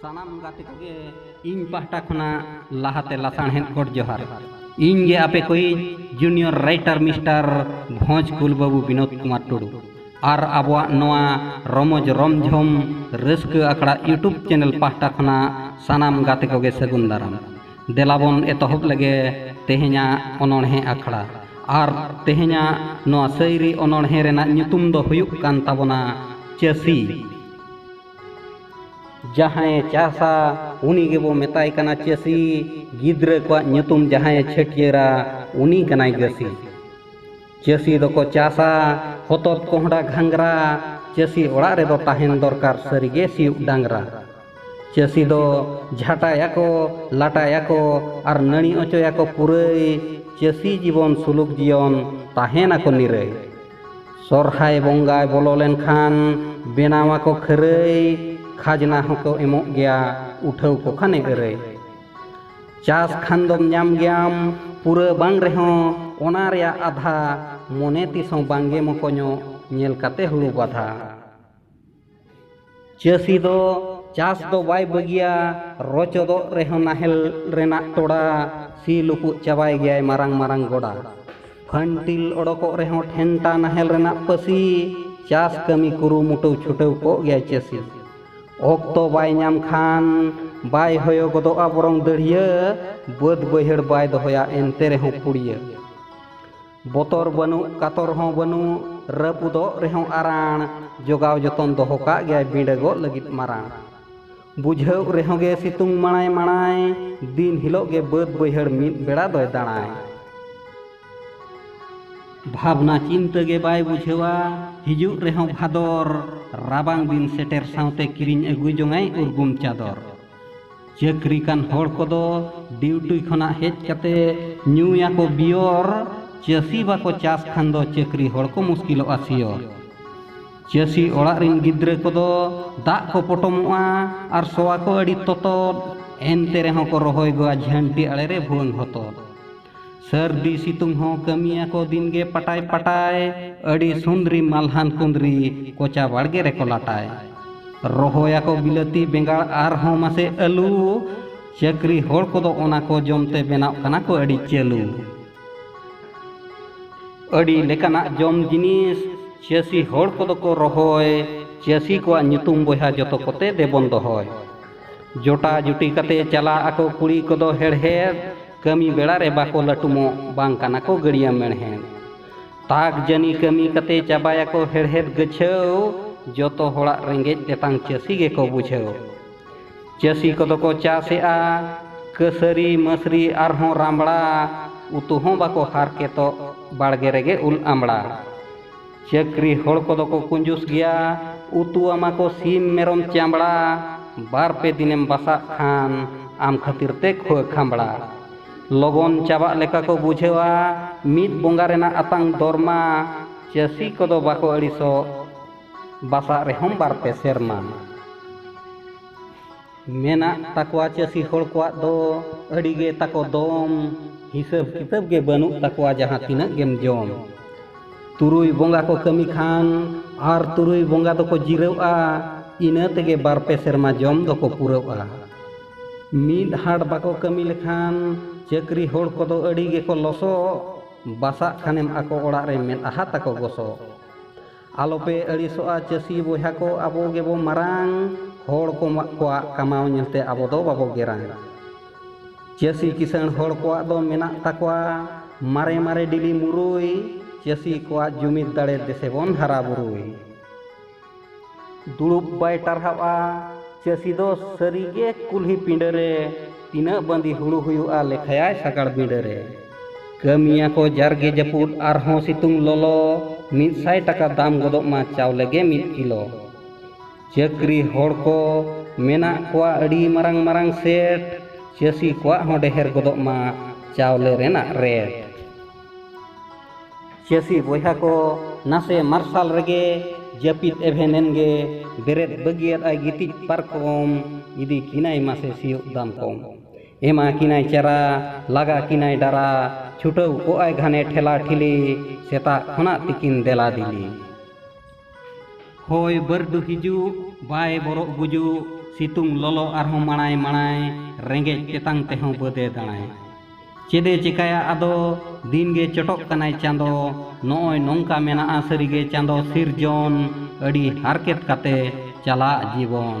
ᱥᱟᱱᱟᱢ ᱜᱟᱛᱮ ᱠᱚᱜᱮ ᱤᱧ ᱯᱟᱦᱴᱟ ᱠᱷᱚᱱᱟᱜ ᱞᱟᱦᱟᱛᱮ ᱞᱟᱥᱟᱬᱦᱮᱫ ᱜᱚᱰ ᱡᱚᱦᱟᱨ ᱤᱧ ᱜᱮ ᱟᱯᱮ ᱠᱚᱭᱤᱡ ᱡᱩᱱᱤᱭᱚᱨ ᱨᱟᱭᱴᱟᱨ ᱢᱤᱥᱴᱟᱨ ᱵᱷᱚᱸᱡᱽ ᱠᱩᱞ ᱵᱟᱹᱵᱩ ᱵᱤᱱᱳᱫ ᱠᱩᱢᱟᱨ ᱴᱩᱰᱩ ᱟᱨ ᱟᱵᱚᱣᱟᱜ ᱱᱚᱣᱟ ᱨᱚᱢᱚᱡᱽ ᱨᱚᱢᱡᱷᱚᱢ ᱨᱟᱹᱥᱠᱟᱹ ᱟᱠᱷᱲᱟ ᱤᱭᱩᱴᱩᱵᱽ ᱪᱮᱱᱮᱞ ᱯᱟᱦᱴᱟ ᱠᱷᱚᱱᱟᱜ ᱥᱟᱱᱟᱢ ᱜᱟᱛᱮ ᱠᱚᱜᱮ ᱥᱟᱹᱜᱩᱱ ᱫᱟᱨᱟᱢ ᱫᱮᱞᱟᱵᱚᱱ ᱮᱛᱚᱦᱚᱵ ᱞᱮᱜᱮ ᱛᱮᱦᱮᱧᱟᱜ ᱚᱱᱚᱬᱦᱮ ᱟᱠᱷᱲᱟ ᱟᱨ ᱛᱮᱦᱮᱧᱟᱜ ᱱᱚᱣᱟ ᱥᱟᱹᱭᱨᱤ ᱚᱱᱚᱬᱦᱮ ᱨᱮᱱᱟᱜ ᱧᱩᱛᱩᱢ ᱫᱚ ᱦᱩᱭᱩᱜ ᱠᱟᱱ ᱛᱟᱵᱚᱱᱟ ᱪᱟᱹᱥᱤ ᱡᱟᱦᱟᱸᱭᱮ ᱪᱟᱥᱟ ᱩᱱᱤ ᱜᱮᱵᱚ ᱢᱮᱛᱟᱭ ᱠᱟᱱᱟ ᱪᱟᱹᱥᱤ ᱜᱤᱫᱽᱨᱟᱹ ᱠᱚᱣᱟᱜ ᱧᱩᱛᱩᱢ ᱡᱟᱦᱟᱸᱭᱮ ᱪᱷᱟᱹᱴᱭᱟᱹᱨᱟ ᱩᱱᱤ ᱠᱟᱱᱟᱭ ᱜᱟᱹᱥᱤ ᱪᱟᱹᱥᱤ ᱫᱚᱠᱚ ᱪᱟᱥᱟ ᱦᱚᱛᱚᱫ ᱠᱚᱦᱰᱟ ᱜᱷᱟᱸᱜᱽᱨᱟ ᱪᱟᱹᱥᱤ ᱚᱲᱟᱜ ᱨᱮᱫᱚ ᱛᱟᱦᱮᱱ ᱫᱚᱨᱠᱟᱨ ᱥᱟᱹᱨᱤᱜᱮ ᱥᱤᱭᱩᱜ ᱰᱟᱝᱨᱟ ᱪᱟᱹᱥᱤ ᱫᱚ ᱡᱷᱟᱴᱟᱭᱟᱠᱚ ᱞᱟᱴᱟᱭᱟᱠᱚ ᱟᱨ ᱱᱟᱹᱲᱤ ᱚᱪᱚᱭᱟᱠᱚ ᱯᱩᱨᱟᱹᱭ ᱪᱟᱹᱥᱤ ᱡᱤᱵᱚᱱ ᱥᱩᱞᱩᱠ ᱡᱤᱭᱚᱱ ᱛᱟᱦᱮᱱᱟᱠᱚ ᱱᱤᱨᱟᱹᱭ ᱥᱚᱨᱦᱟᱭ ᱵᱚᱸᱜᱟᱭ ᱵᱚᱞᱚ ᱞᱮᱱᱠᱷᱟᱱ ᱵᱮᱱᱟᱣᱟᱠᱚ ᱠᱷᱟᱹᱨᱟᱹᱭ ᱠᱷᱟᱡᱽᱱᱟ ᱦᱚᱸᱠᱚ ᱮᱢᱚᱜ ᱜᱮᱭᱟ ᱩᱴᱷᱟᱹᱣ ᱠᱚ ᱠᱷᱟᱱᱮ ᱟᱹᱨᱟᱹᱭ ᱪᱟᱥ ᱠᱷᱟᱱ ᱫᱚᱢ ᱧᱟᱢ ᱜᱮᱭᱟᱢ ᱯᱩᱨᱟᱹ ᱵᱟᱝ ᱨᱮᱦᱚᱸ ᱚᱱᱟ ᱨᱮᱭᱟᱜ ᱟᱫᱷᱟ ᱢᱚᱱᱮ ᱛᱤᱥ ᱦᱚᱸ ᱵᱟᱝᱜᱮ ᱢᱚᱠᱚᱧᱚᱜ ᱧᱮᱞ ᱠᱟᱛᱮ ᱦᱩᱲᱩ ᱵᱟᱫᱷᱟ ᱪᱟᱹᱥᱤ ᱫᱚ ᱪᱟᱥ ᱫᱚ ᱵᱟᱭ ᱵᱟᱹᱜᱤᱭᱟ ᱨᱚᱪᱚᱫᱚᱜ ᱨᱮᱦᱚᱸ ᱱᱟᱦᱮᱞ ᱨᱮᱱᱟᱜ ᱴᱚᱲᱟ ᱥᱤ ᱞᱩᱯᱩᱜ ᱪᱟᱵᱟᱭ ᱜᱮᱭᱟᱭ ᱢᱟᱨᱟᱝ ᱢᱟᱨᱟᱝ ᱜᱚᱰᱟ ᱯᱷᱟᱹᱱᱴᱤᱞ ᱚᱰᱚᱠᱚᱜ ᱨᱮᱦᱚᱸ ᱴᱷᱮᱱᱴᱟ ᱱᱟᱦᱮᱞ ᱨᱮᱱᱟᱜ ᱯᱟᱹᱥᱤ ᱪᱟᱥ ᱠᱟᱹᱢᱤ ᱠᱩᱨᱩᱢᱩᱴᱩ ᱪᱷᱩᱴᱟᱹᱣ ᱠᱚᱜ ᱜᱮᱭᱟᱭ ᱪᱟᱹᱥᱤ ᱚᱠᱛᱚ ᱵᱟᱭ ᱧᱟᱢ ᱠᱷᱟᱱ ᱵᱟᱭ ᱦᱚᱭᱚ ᱜᱚᱫᱚᱜᱼᱟ ᱵᱚᱨᱚᱝ ᱫᱟᱹᱲᱭᱟᱹ ᱵᱟᱹᱫᱽ ᱵᱟᱹᱭᱦᱟᱹᱲ ᱵᱟᱭ ᱫᱚᱦᱚᱭᱟ ᱮᱱᱛᱮ ᱨᱮᱦᱚᱸ ᱯᱩᱲᱭᱟᱹ ᱵᱚᱛᱚᱨ ᱵᱟᱹᱱᱩᱜ ᱠᱟᱛᱚᱨ ᱦᱚᱸ ᱵᱟᱹᱱᱩᱜ ᱨᱟᱹᱯᱩᱫᱚᱜ ᱨᱮᱦᱚᱸ ᱟᱨᱟᱬ ᱡᱚᱜᱟᱣ ᱡᱚᱛᱚᱱ ᱫᱚᱦᱚ ᱠᱟᱜ ᱜᱮᱭᱟᱭ ᱵᱤᱸᱰᱟᱹᱜᱚᱜ ᱞᱟᱹᱜᱤᱫ ᱢᱟᱨᱟᱬ ᱵᱩᱡᱷᱟᱹᱣ ᱨᱮᱦᱚᱸ ᱜᱮ ᱥᱤᱛᱩᱝ ᱢᱟᱲᱟᱭ ᱢᱟᱲᱟᱭ ᱫᱤᱱ ᱦᱤᱞᱳᱜ ᱜᱮ ᱵᱟᱹᱫᱽ ᱵᱟᱹᱭᱦᱟᱹᱲ ᱢᱤᱫ ᱵᱮᱲᱟ ᱫᱚᱭ ᱫᱟᱬᱟᱭ ᱵᱷᱟᱵᱽᱱᱟ ᱪᱤᱱᱛᱟᱹ ᱜᱮ ᱵᱟᱭ ᱵᱩᱡᱷᱟᱹᱣᱟ ᱦᱤᱡᱩᱜ ᱨᱮᱦᱚᱸ ᱵᱷᱟᱫᱚᱨ ᱨᱟᱵᱟᱝ ᱫᱤᱱ ᱥᱮᱴᱮᱨ ᱥᱟᱶᱛᱮ ᱠᱤᱨᱤᱧ ᱟᱹᱜᱩ ᱡᱚᱝᱟᱭ ᱩᱨᱜᱩᱢ ᱪᱟᱫᱚᱨ ᱪᱟᱹᱠᱨᱤ ᱠᱟᱱ ᱦᱚᱲ ᱠᱚᱫᱚ ᱰᱤᱭᱩᱴᱤ ᱠᱷᱚᱱᱟᱜ ᱦᱮᱡ ᱠᱟᱛᱮ ᱧᱩᱭᱟᱠᱚ ᱵᱤᱭᱚᱨ ᱪᱟᱹᱥᱤ ᱵᱟᱠᱚ ᱪᱟᱥ ᱠᱷᱟᱱ ᱫᱚ ᱪᱟᱹᱠᱨᱤ ᱦᱚᱲ ᱠᱚ ᱢᱩᱥᱠᱤᱞᱚᱜᱼᱟ ᱥᱤᱭᱚᱨ ᱪᱟᱹᱥᱤ ᱚᱲᱟᱜ ᱨᱤᱱ ᱜᱤᱫᱽᱨᱟᱹ ᱠᱚᱫᱚ ᱫᱟᱜ ᱠᱚ ᱯᱚᱴᱚᱢᱚᱜᱼᱟ ᱟᱨ ᱥᱚᱣᱟ ᱠᱚ ᱟᱹᱰᱤ ᱛᱚᱛᱚᱫ ᱮᱱᱛᱮ ᱨᱮᱦᱚᱸ ᱠᱚ ᱨᱚᱦᱚᱭ ᱜᱚᱫᱟ ᱡᱷᱟᱹᱱᱴᱤ ᱟᱲᱮ ᱨᱮ ᱵᱷᱩᱣᱟᱹᱝ ᱦᱚᱛᱚᱫ ᱥᱟᱹᱨᱫᱤ ᱥᱤᱛᱩᱝ ᱦᱚᱸ ᱠᱟᱹᱢᱤᱭᱟᱠᱚ ᱫᱤᱱᱜᱮ ᱯᱟᱴᱟᱭ ᱯᱟᱴᱟᱭ ᱟᱹᱰᱤ ᱥᱩᱱᱫᱽᱨᱤ ᱢᱟᱞᱦᱟᱱ ᱠᱩᱸᱫᱽᱨᱤ ᱠᱚᱪᱟ ᱵᱟᱲᱜᱮ ᱨᱮᱠᱚ ᱞᱟᱴᱟᱭ ᱨᱚᱦᱚᱭᱟᱠᱚ ᱵᱤᱞᱟᱹᱛᱤ ᱵᱮᱸᱜᱟᱲ ᱟᱨᱦᱚᱸ ᱢᱟᱥᱮ ᱟᱹᱞᱩ ᱪᱟᱹᱠᱨᱤ ᱦᱚᱲ ᱠᱚᱫᱚ ᱚᱱᱟ ᱠᱚ ᱡᱚᱢᱛᱮ ᱵᱮᱱᱟᱣ ᱠᱟᱱᱟ ᱠᱚ ᱟᱹᱰᱤ ᱪᱟᱹᱞᱩ ᱟᱹᱰᱤ ᱞᱮᱠᱟᱱᱟᱜ ᱡᱚᱢ ᱡᱤᱱᱤᱥ ᱪᱟᱹᱥᱤ ᱦᱚᱲ ᱠᱚᱫᱚ ᱠᱚ ᱨᱚᱦᱚᱭ ᱪᱟᱹᱥᱤ ᱠᱚᱣᱟᱜ ᱧᱩᱛᱩᱢ ᱵᱚᱭᱦᱟ ᱡᱚᱛᱚ ᱠᱚᱛᱮ ᱫᱮᱵᱚᱱ ᱫᱚᱦᱚᱭ ᱡᱚᱴᱟ ᱡᱩᱴᱤ ᱠᱟᱛᱮ ᱪᱟᱞᱟᱜ ᱟᱠᱚ ᱠᱩᱲᱤ ᱠᱚᱫᱚ ᱦᱮᱲᱦᱮᱫ ᱠᱟᱹᱢᱤ ᱵᱮᱲᱟ ᱨᱮ ᱵᱟᱠᱚ ᱞᱟᱹᱴᱩᱢᱚᱜ ᱵᱟᱝ ᱠᱟᱱᱟ ᱠᱚ ᱜᱟᱹᱲᱤᱭᱟᱹ ᱢᱮᱬᱦᱮᱫ ᱛᱟᱠ ᱡᱟᱹᱱᱤ ᱠᱟᱹᱢᱤ ᱠᱟᱛᱮ ᱪᱟᱵᱟᱭᱟᱠᱚ ᱦᱮᱲᱦᱮᱫ ᱜᱟᱹᱪᱷᱟᱹᱣ ᱡᱚᱛᱚ ᱦᱚᱲᱟᱜ ᱨᱮᱸᱜᱮᱡ ᱛᱮᱛᱟᱝ ᱪᱟᱹᱥᱤ ᱜᱮᱠᱚ ᱵᱩᱡᱷᱟᱹᱣ ᱪᱟᱹᱥᱤ ᱠᱚᱫᱚ ᱠᱚ ᱪᱟᱥᱮᱜᱼᱟ ᱠᱟᱹᱥᱟᱹᱨᱤ ᱢᱟᱹᱥᱨᱤ ᱟᱨᱦᱚᱸ ᱨᱟᱢᱲᱟ ᱩᱛᱩ ᱦᱚᱸ ᱵᱟᱠᱚ ᱦᱟᱨᱠᱮᱛᱚᱜ ᱵᱟᱲᱜᱮ ᱨᱮᱜᱮ ᱩᱞ ᱟᱢᱲᱟ ᱪᱟᱹᱠᱨᱤ ᱦᱚᱲ ᱠᱚᱫᱚ ᱠᱚ ᱠᱩᱸᱡᱩᱥ ᱜᱮᱭᱟ ᱩᱛᱩ ᱟᱢᱟ ᱠᱚ ᱥᱤᱢ ᱢᱮᱨᱚᱢ ᱪᱟᱢᱲᱟ ᱵᱟᱨ ᱯᱮ ᱫᱤᱱᱮᱢ ᱵᱟᱥᱟᱜ ᱠᱷᱟᱱ ᱟᱢ ᱠᱷᱟᱹᱛᱤᱨ ᱛᱮ ᱠᱷᱳᱭ ᱠᱷᱟᱢᱲᱟ ᱞᱚᱜᱚᱱ ᱪᱟᱵᱟᱜ ᱞᱮᱠᱟ ᱠᱚ ᱵᱩᱡᱷᱟᱹᱣᱟ ᱢᱤᱫ ᱵᱚᱸᱜᱟ ᱨᱮᱱᱟᱜ ᱟᱛᱟᱝ ᱫᱚᱨᱢᱟ ᱪᱟᱹᱥᱤ ᱠᱚᱫᱚ ᱵᱟᱠᱚ ᱟᱹᱲᱤᱥᱚᱜ ᱵᱟᱥᱟᱜ ᱨᱮᱦᱚᱸᱢ ᱵᱟᱨ ᱯᱮ ᱥᱮᱨᱢᱟ ᱢᱮᱱᱟᱜ ᱛᱟᱠᱚᱣᱟ ᱪᱟᱹᱥᱤ ᱦᱚᱲ ᱠᱚᱣᱟᱜ ᱫᱚ ᱟᱹᱰᱤ ᱜᱮ ᱛᱟᱠᱚ ᱫᱚᱢ ᱦᱤᱥᱟᱹᱵ ᱠᱤᱛᱟᱹᱵ ᱜᱮ ᱵᱟᱹᱱᱩᱜ ᱛᱟᱠᱚᱣᱟ ᱡᱟᱦᱟᱸ ᱛᱤᱱᱟᱹᱜ ᱜᱮᱢ ᱡᱚᱢ ᱛᱩᱨᱩᱭ ᱵᱚᱸᱜᱟ ᱠᱚ ᱠᱟᱹᱢᱤ ᱠᱷᱟᱱ ᱟᱨ ᱛᱩᱨᱩᱭ ᱵᱚᱸᱜᱟ ᱫᱚᱠᱚ ᱡᱤᱨᱟᱹᱜᱼᱟ ᱤᱱᱟᱹ ᱛᱮᱜᱮ ᱵᱟᱨ ᱯᱮ ᱥᱮᱨᱢᱟ ᱡᱚᱢ ᱫᱚᱠᱚ ᱯᱩᱨᱟᱹᱜᱼᱟ ᱢᱤᱫ ᱦᱟᱴ ᱵᱟᱠᱚ ᱠᱟᱹᱢᱤ ᱞᱮᱠᱷᱟᱱ ᱪᱟᱹᱠᱨᱤ ᱦᱚᱲ ᱠᱚᱫᱚ ᱟᱹᱰᱤ ᱜᱮᱠᱚ ᱞᱚᱥᱚᱜ ᱵᱟᱥᱟᱜ ᱠᱷᱟᱱᱮᱢ ᱟᱠᱚ ᱚᱲᱟᱜ ᱨᱮ ᱢᱮᱫᱦᱟ ᱛᱟᱠᱚ ᱜᱚᱥᱚᱜ ᱟᱞᱚᱯᱮ ᱟᱹᱲᱤᱥᱚᱜᱼᱟ ᱪᱟᱹᱥᱤ ᱵᱚᱭᱦᱟ ᱠᱚ ᱟᱵᱚ ᱜᱮᱵᱚ ᱢᱟᱨᱟᱝ ᱦᱚᱲ ᱠᱚ ᱠᱚᱣᱟᱜ ᱠᱟᱢᱟᱣ ᱧᱮᱞᱛᱮ ᱟᱵᱚ ᱫᱚ ᱵᱟᱵᱚ ᱜᱮᱨᱟᱝ ᱪᱟᱹᱥᱤ ᱠᱤᱥᱟᱹᱬ ᱦᱚᱲ ᱠᱚᱣᱟᱜ ᱫᱚ ᱢᱮᱱᱟᱜ ᱛᱟᱠᱚᱣᱟ ᱢᱟᱨᱮ ᱢᱟᱨᱮ ᱰᱤᱞᱤ ᱢᱩᱨᱩᱭ ᱪᱟᱹᱥᱤ ᱠᱚᱣᱟᱜ ᱡᱩᱢᱤᱫ ᱫᱟᱲᱮ ᱫᱮᱥᱮ ᱵᱚᱱ ᱦᱟᱨᱟ ᱵᱩᱨᱩᱭ ᱫᱩᱲᱩᱵ ᱵᱟᱭ ᱴᱟᱨᱦᱟᱜᱼᱟ ᱪᱟᱹᱥᱤ ᱫᱚ ᱥᱟᱹᱨᱤᱜᱮ ᱠᱩᱞᱦᱤ ᱯᱤᱸᱰᱟᱹ ᱨᱮ ᱛᱤᱱᱟᱹᱜ ᱵᱟᱸᱫᱤ ᱦᱩᱲᱩ ᱦᱩᱭᱩᱜᱼᱟ ᱞᱮᱠᱷᱟᱭᱟᱭ ᱥᱟᱜᱟᱲ ᱵᱤᱸᱰᱟᱹ ᱨᱮ᱾ ᱠᱟᱹᱢᱤᱭᱟ ᱠᱚ ᱡᱟᱨᱜᱮ ᱡᱟᱹᱯᱩᱫ ᱟᱨ ᱦᱚᱸ ᱥᱤᱛᱩᱝ ᱞᱚᱞᱚ᱾ ᱢᱤᱫ ᱥᱟᱭ ᱴᱟᱠᱟ ᱫᱟᱢ ᱜᱚᱫᱚᱜ ᱢᱟ ᱪᱟᱣᱞᱮ ᱜᱮ ᱢᱤᱫ ᱠᱤᱞᱚ᱾ ᱪᱟᱹᱠᱨᱤ ᱦᱚᱲ ᱠᱚ ᱢᱮᱱᱟᱜ ᱠᱚᱣᱟ ᱟᱹᱰᱤ ᱢᱟᱨᱟᱝ ᱢᱟᱨᱟᱝ ᱥᱮᱴ᱾ ᱪᱟᱹᱥᱤ ᱠᱚᱣᱟᱜ ᱦᱚᱸ ᱰᱮᱦᱮᱨ ᱜᱚᱫᱚᱜ ᱢᱟ ᱪᱟᱣᱞᱮ ᱨᱮᱱᱟᱜ ᱨᱮᱴ᱾ ᱪᱟᱹᱥᱤ ᱵᱚᱭᱦᱟ ᱠᱚ ᱱᱟᱥᱮ ᱢᱟᱨᱥᱟᱞ ᱨᱮᱜᱮ ᱡᱟᱹᱯᱤᱫ ᱮᱵᱷᱮᱱᱮᱱ ᱜᱮ ᱵᱮᱨᱮᱫ ᱵᱟᱹᱜᱤᱭᱟᱫ ᱟᱭ ᱜᱤᱛᱤᱡ ᱯᱟᱨᱠᱚᱢ ᱤᱫᱤ ᱠᱤᱱᱟᱭ ᱢᱟᱥᱮ ᱥᱤᱭᱳᱜ ᱫᱟᱢ ᱠᱚᱢ ᱮᱢᱟ ᱠᱤᱱᱟᱭ ᱪᱟᱨᱟ ᱞᱟᱜᱟ ᱠᱤᱱᱟᱭ ᱰᱟᱨᱟ ᱪᱷᱩᱴᱟᱹᱣ ᱠᱚᱜᱼᱟᱭ ᱜᱷᱟᱱᱮ ᱴᱷᱮᱞᱟ ᱴᱷᱤᱞᱤ ᱥᱮᱛᱟᱜ ᱠᱷᱚᱱᱟᱜ ᱛᱤᱠᱤᱱ ᱫᱮᱞᱟ ᱫᱮᱞᱤ ᱦᱚᱭ ᱵᱟᱹᱨᱰᱩ ᱦᱤᱡᱩᱜ ᱵᱟᱭ ᱵᱚᱨᱚᱜ ᱜᱩᱡᱩᱜ ᱥᱤᱛᱩᱝ ᱞᱚᱞᱚ ᱟᱨᱦᱚᱸ ᱢᱟᱲᱟᱭ ᱢᱟᱲᱟᱭ ᱨᱮᱸᱜᱮᱡ ᱛᱮᱛᱟᱝ ᱛᱮᱦᱚᱸ ᱵᱟᱹᱫᱮ ᱫᱟᱬᱟᱭ ᱪᱮᱫᱮ ᱪᱮᱠᱟᱭᱟ ᱟᱫᱚ ᱫᱤᱱ ᱜᱮ ᱪᱚᱴᱚᱜ ᱠᱟᱱᱟᱭ ᱪᱟᱸᱫᱚ ᱱᱚᱜᱼᱚᱭ ᱱᱚᱝᱠᱟ ᱢᱮᱱᱟᱜᱼᱟ ᱥᱟᱹᱨᱤᱜᱮ ᱪᱟᱸᱫᱚ ᱥᱤᱨᱡᱚᱱ ᱟᱹᱰᱤ ᱦᱟᱨᱠᱮᱛ ᱠᱟᱛᱮ ᱪᱟᱞᱟᱜ ᱡᱤᱵᱚᱱ